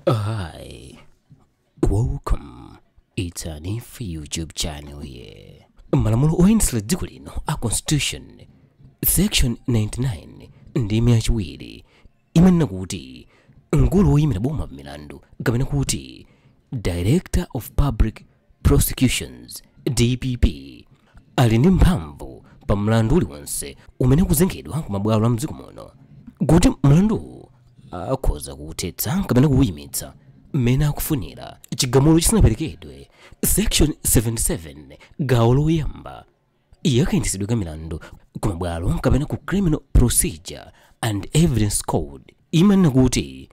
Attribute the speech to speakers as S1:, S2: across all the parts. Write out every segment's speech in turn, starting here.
S1: Hi, welcome. It's an if YouTube channel here. Malamulo oyendetsera dziko lino a Constitution section 99 ndime yachiwiri imanena kuti mkulu woyimira boma pamilandu kapena kuti Director of Public prosecutions dpp ali ndi mphamvu pa mlandu uliwonse umene ukuzengedwa ku mabwalo a mdziko muno kuti mlanduwu akhoza kuwuthetsa kapena kuwuyimitsa mmene akufunira chigamulo chisanaperekedwe section 77 gawo loyamba ya kayendetsedwe ka milandu ku mabwalo kapena kuti criminal procedure and evidence code imanena kuti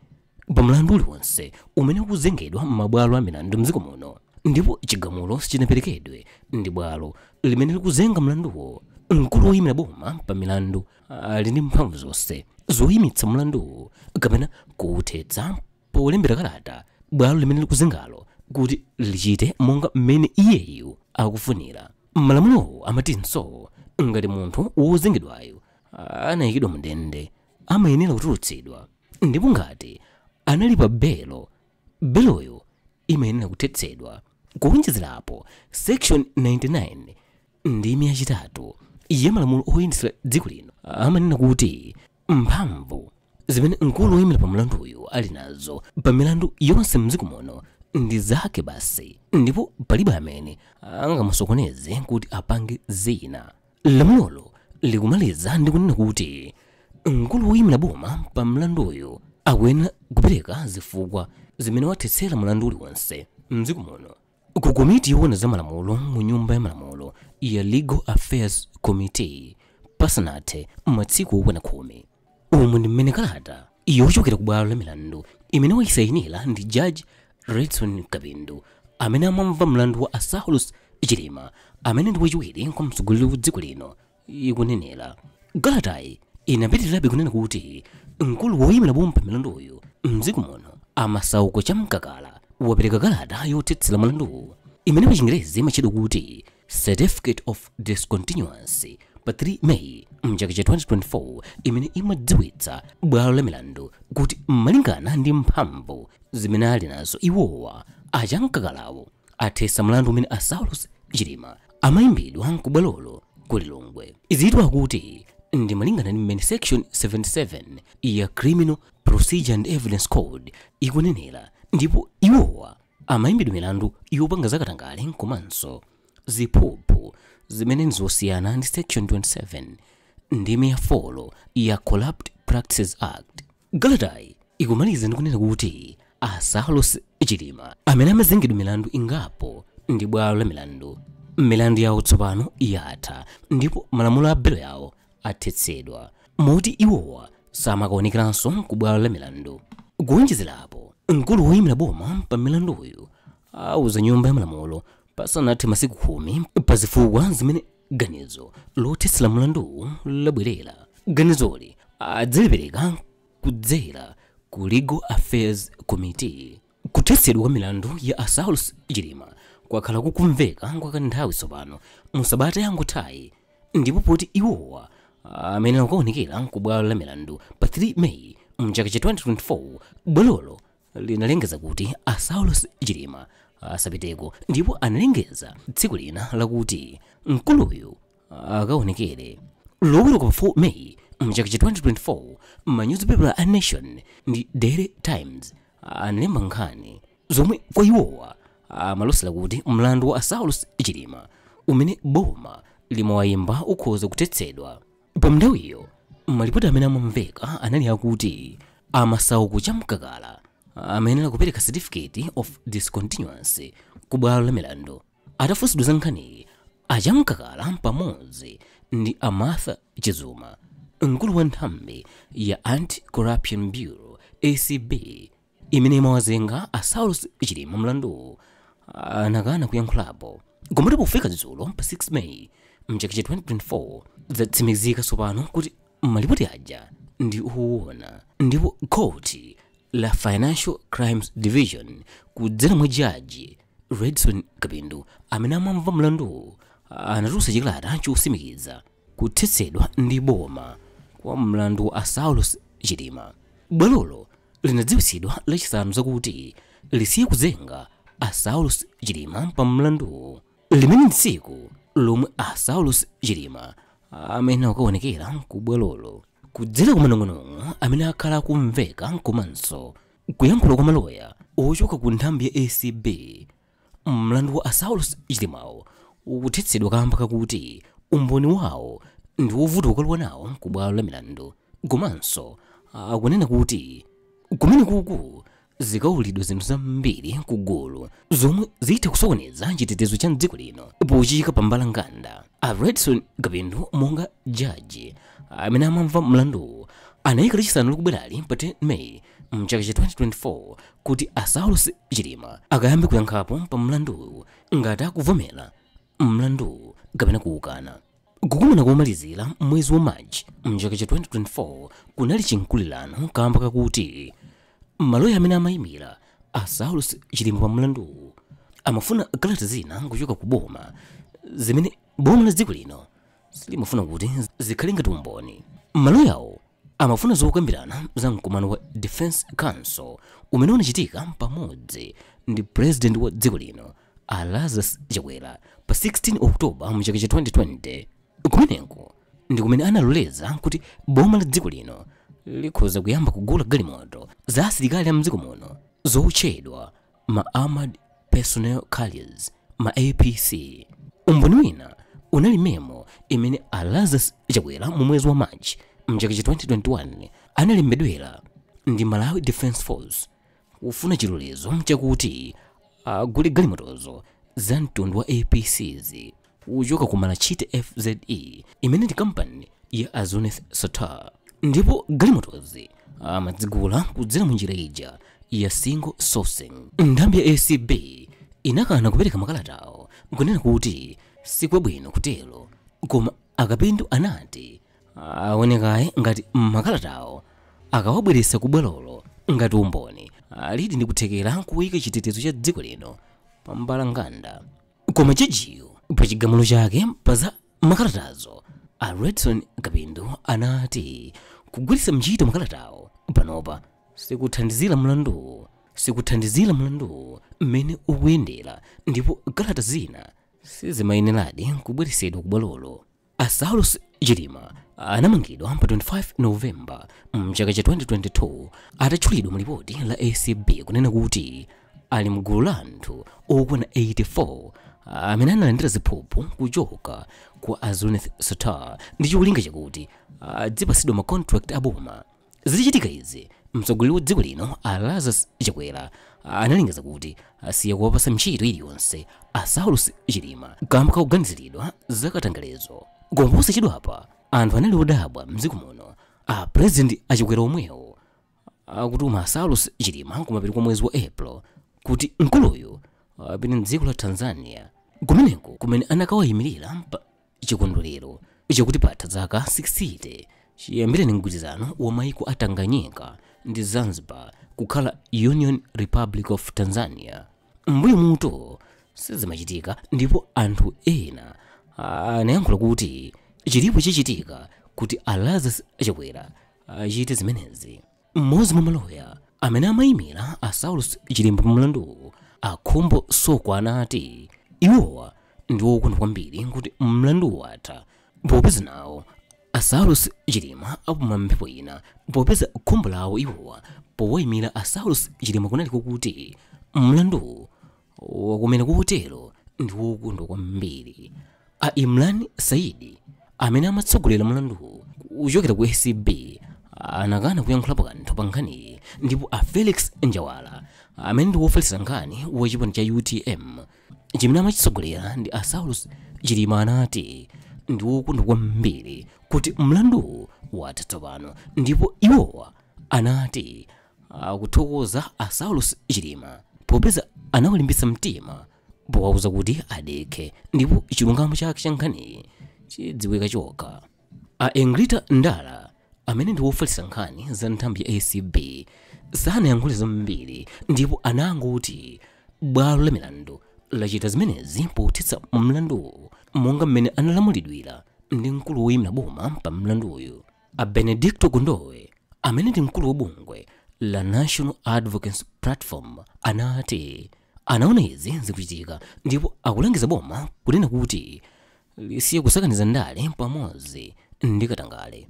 S1: pa mlandu uliwonse umene ukuzengedwa m'mabwalo a milandu mdziko muno ndipo chigamulo sichinaperekedwe ndi bwalo limene likuzenga mlanduwo mkulu woyimira boma pa milandu ali ndi mphamvu zonse zoyimitsa mlanduwo kapena kuwuthetsa polembera kalata bwalo limene likuzengalo kuti lichite monga mmene iyeyu akufunira malamulowo amatinso ngati munthu wozengedwayo anayikidwa mndende amayenera kutulutsidwa ndipo ngati anali pa belo beloyo imayenera kuthetsedwa kuwonjezerapo section 99 ndime yachitatu ya malamulo oyendetsera dziko lino amanena kuti Mphamvu zimene mkulu woyimira pa milanduyu ali nazo pa milandu yonse m'dziko muno ndi zake basi ndipo palibe amene angamusokoneze kuti apange zina. Lamulolo likumaliza ndi kunena kuti mkulu woyimira boma pa milanduyu akuyenera kupereka zifukwa zimene wathetsera mlandu uliwonse m'dziko muno. Ku komiti yoona za malamulo mu Nyumba ya Malamulo ya Legal Affairs Committee pasanathe masiku okwana khumi. Umu ndi mmene kalata yochokera ku bwalo la milandu imene waisayinira ndi Judge Redson Kapindu amene amamva mlandu wa a Saulos Chilima amene ndi wachiwiri kwa mtsogoleri wa dziko lino ikunenera kalatayi inapitirirabe kunena kuti mkulu woyimira boma pa milanduyu mdziko muno a Masauko Chamkakala wapereka kalata yothetsera mlanduwu imene pa chingerezi imatchedwa kuti certificate of discontinuance pa 3 may mchaka cha 2024 imene imadziwitsa bwalo la milandu kuti malingana ndi mphamvu zimene ali nazo iwowa a Chamkakalawo athetsa mlandu umene a Saulos Chilima amayimbidwa ku bwalolo ku Lilongwe. Izitu akuti ndi malingana ndi mmene section 77 ya Criminal Procedure and Evidence Code ikunenera ndipo iwowa amayimbidwa milandu yopanga zakatangale nkomanso ziphuphu zimene nzosiyana ndi section 27 ndime ya 4 ya Corrupt Practices Act. Kalatayi ikumaliza ndi kunena kuti a Saulos Chilima amene amazengedwa milandu ingapo ndi bwalo la milandu, milandu yawo tsopano yatha ndipo malamulo a belo yawo athetsedwa moti iwowa samakaonekeranso ku bwalo la milandu. Kuwonjezerapo, mkulu woyimira boma pa milanduyu auza nyumba ya malamulo pasanathe masiku khumi pa zifukwa zimene ganizo lothetsera mlanduwu labwerera ganizoli adzalipereka kudzera ku legal affairs committee kuthetsedwa kwa milandu ya a Saulos Chilima kwakhala kukumveka kwa kanthawi tsopano mu sabata yangothayi ndipo poti iwowa amayenera kukaonekera ku bwalo la milandu pa 3 May mchaka cha 2024 bwalolo linalengeza kuti a Saulos Chilima asapiteko ndipo analengeza tsiku lina lakuti mkuluyu akaonekere loweruka pa 4 May mchaka cha 2024 manyuzipepala a Nation ndi Daily Times analemba nkhani zomwe kwa iwowa amalosera kuti mlandu wa a Saulos Chilima umene boma limawayimba ukhoza kuthetsedwa Pa nthawiyo, malipoti amene amamveka anali akuti a Masauko Chamkakala amayenera kupereka certificate of discontinuance ku bwalo la milandu. Atafunsidwa za nkhaniyi, a Chamkakala pamodzi ndi a Martha Chizuma, mkulu wa nthambi ya Anti-Corruption Bureau, acb, imene imawazenga a Saulos Chilima mlanduwu anakana kuyankhulapo komatu pofika dzulo pa 6 May mchaka cha 2024 zatsimikizika tsopano kuti malipoti aja ndi owona ndipo khoti la Financial Crimes Division kudzera mwa jaji Redson Kapindu amene amamva mlanduwu anatulutsa chikalata chotsimikiza Kuthetsedwa ndi boma kwa mlandu wa a Saulos Chilima. Bwalolo linadziwitsidwa lachisanu zakuti lisiye kuzenga a Saulos Chilima pa mlanduwu. Limene ndi tsiku lomwe a Saulos Chilima amayenera kukaonekera ku bwalolo. Kudzera ku manong'onong'o amene akhala akumveka komanso kuyankhula kwa maloya ochoka ku nthambi ya acb, Mlandu wa a Saulos Chilimawu ukuthetsedwa kaamba kakuti umboni wawo ndi wovuta kukalowa nawo ku bwalo la milandu komanso akunena kuti kumenekuku zikaululidwa zinthu zambiri ku gulu zomwe zitha kusokoneza chitetezo cha m'dziko lino pochiyika pa mbalambanda. A Redson Kapindu monga jaji amene amamva mlanduwu anayika Lachisanu likubwerali pa 10 May mchaka cha 2024 kuti a Saulos Chilima akayambe kuyankhapo pa mlanduwu ngati akuvomera mlanduwu kapena kuukana. Kukumana komalizira mwezi wa March mchaka cha 2024 kunali chimkulirano kamba kakuti maloya amene amayimira a Saulos Chilima pa mlanduwu amafuna kalata zina kuchoka ku boma zimene boma la dziko lino silimafuna kuti zikhale ngati umboni. Maloyawo amafuna zokambirana za mkumano wa defense council umene unachitika pamodzi ndi president wa dziko lino a lazarus chakwera pa 16 oktoba mu chaka cha 2020 kumeneko ndi kumene analoleza kuti boma la dziko lino likhoza kuyamba kugula galimoto za asilikali a mdziko muno zotchedwa ma Armored Personnel Carriers, ma APC. Umboni wina unali memo imene a Lazarus Chakwera mu mwezi wa March mchaka cha 2021 analembedwera ndi Malawi Defence Force kufuna chilolezo chakuti agule galimotozo za mtundu wa APCs. kuchoka ku malachite fze imene ndi kampani ya a zuneth sattar ndipo galimotozi amadzigula kudzera mu njira ija ya single sourcing nthambi ya acb inakana kupereka makalatawo kunena kuti sikwabwino kutero koma a kapindu anati aonekaye ngati makalatawo akawabweretsa ku bwalolo ngati umboni alidi ndi kuthekera kuyika chitetezo cha dziko lino pambalanganda koma jajiyo pa chigamulo chake pa za makalatazo a redson kapindu anati kugwiritsa ntchito makalatawo panopa sikuthandizira mlanduwu sikuthandizira mlanduwu mmene ukuyendera ndipo kalata zina sizimayeneradi kubweresedwa ku bwalolo A Saulos Chilima anamangidwa pa 25 November mchaka cha 2022 atatchulidwa mu lipoti la ACB kunena kuti ali mgulu la anthu okwana 84 amene analandira ziphuphu kuchoka kwa a Zuneth Sattar ndi cholinga chakuti adzipasidwa ma contract aboma Zitachitika izi, mtsogoleri wa dziko lino a Lazarus Chakwera analengeza kuti asiya kuwapasa ntchito iliyonse a Saulos Chilima kamba kakuganiziridwa za katangalezo. Koma posachedwapa anthu anali odabwa mdziko muno a president a Chakwera omwewo akutuma a Saulos Chilima kumapeto kwa mwezi wa April kuti mkuluyu apite mdziko la Tanzania kumeneko kumene anakawayimirira pa chikondwerero chakuti patha zaka 60 chiyambireni mgwirizano wa maiko a tanganyika ndi zanzibar kukhala union republic of tanzania m'mbuyomu izi sizimachitika ndipo anthu ena anayankhula kuti chilipo chichitika kuti a lazarus chakwera achite zimenezi Mmodzi mwa maloya amene amaimira a Saulos Chilima pa mlanduwu, a Khumbo Soko anati iwowa ndi okondwa kwambiri kuti mlanduwu watha popeza nawo a Saulos Chilima apuma mphepo ina popeza khumbo lawo iwowa powaimira a Saulos Chilima kunali kokuti mlanduwu wathe kumene kotero ndi wokondwa kwambiri a imran saidi amene amatsogolera mlanduwu kuchokera ku acb anakana kuyankhulapo kanthu pa nkhaniyi ndipo a felix njawala amene ndi wofalitsa nkhani wa chipani cha utm chimene amachitsogolera ndi a saulus chilima anati ndi wokondwa kwambiri kuti mlanduwu watha tsopano ndipo iwowa anati akuthokoza a Saulos Chilima popeza anawalimbitsa mtima powauza kuti adekhe ndipo chilungamo chake cha nkhaniyi chidziwika chokha a Egrita Ndala amene ndi wofalitsa nkhani za nthambi ya acb sanayankhule zambiri ndipo anangoti bwalo la milandu lachita zimenezi pothetsa mlanduwu monga mmene analamulidwira ndi mkulu woyimira boma pa milanduyu A Benedicto Kondowe amene ndi mkulu wa bungwe la National Advocacy Platform anati anaona izi zikuchitika ndipo akulangiza boma kunena kuti lisiye kusakaniza ndale pamodzi ndi katangale.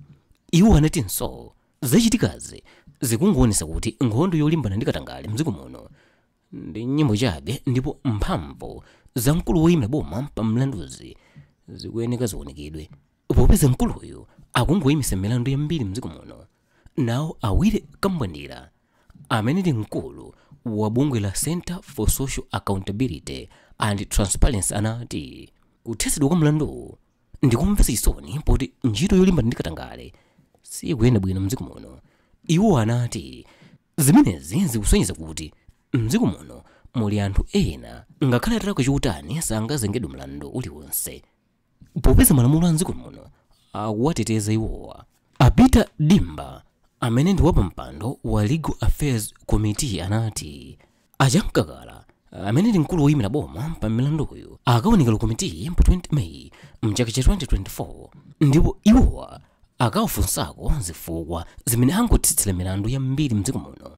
S1: Iwo anatinso zachitikazi zikungoonetsa kuti nkhondo yolimbana ndi katangale mdziko muno ndi nyimbo chabe ndipo mphamvu za mkulu woyimira boma pa milanduzi zikuyeneka ziunikidwe. popeza mkuluyu akungoyimitsa milandu yambiri mdziko muno nawo a willy kambwandira amene ndi mkulu wa bungwe la center for social accountability and transparency anati kuthetsedwa kwa mlanduwu ndikomvetsa chisoni poti ntchito yolimbana ndi katangale sikuyenda bwino mdziko muno iwo anati zimenezi zikusonyeza kuti mdziko muno muli anthu ena ngakhale atalakwa chotani sangazengedwe mlandu uliwonse popeza malamulo a mdziko muno akuwateteza iwowa a peter dimba amene ndi wapampando wa legal affairs committee anati a chamkakala amene ndi mkulu woyimira boma pa milanduyu akaonekera ku komitiyi pa 20 may mchaka cha 2024 ndipo iwowa akawafunsako zifukwa zimene akuthetsera milandu yambiri mdziko muno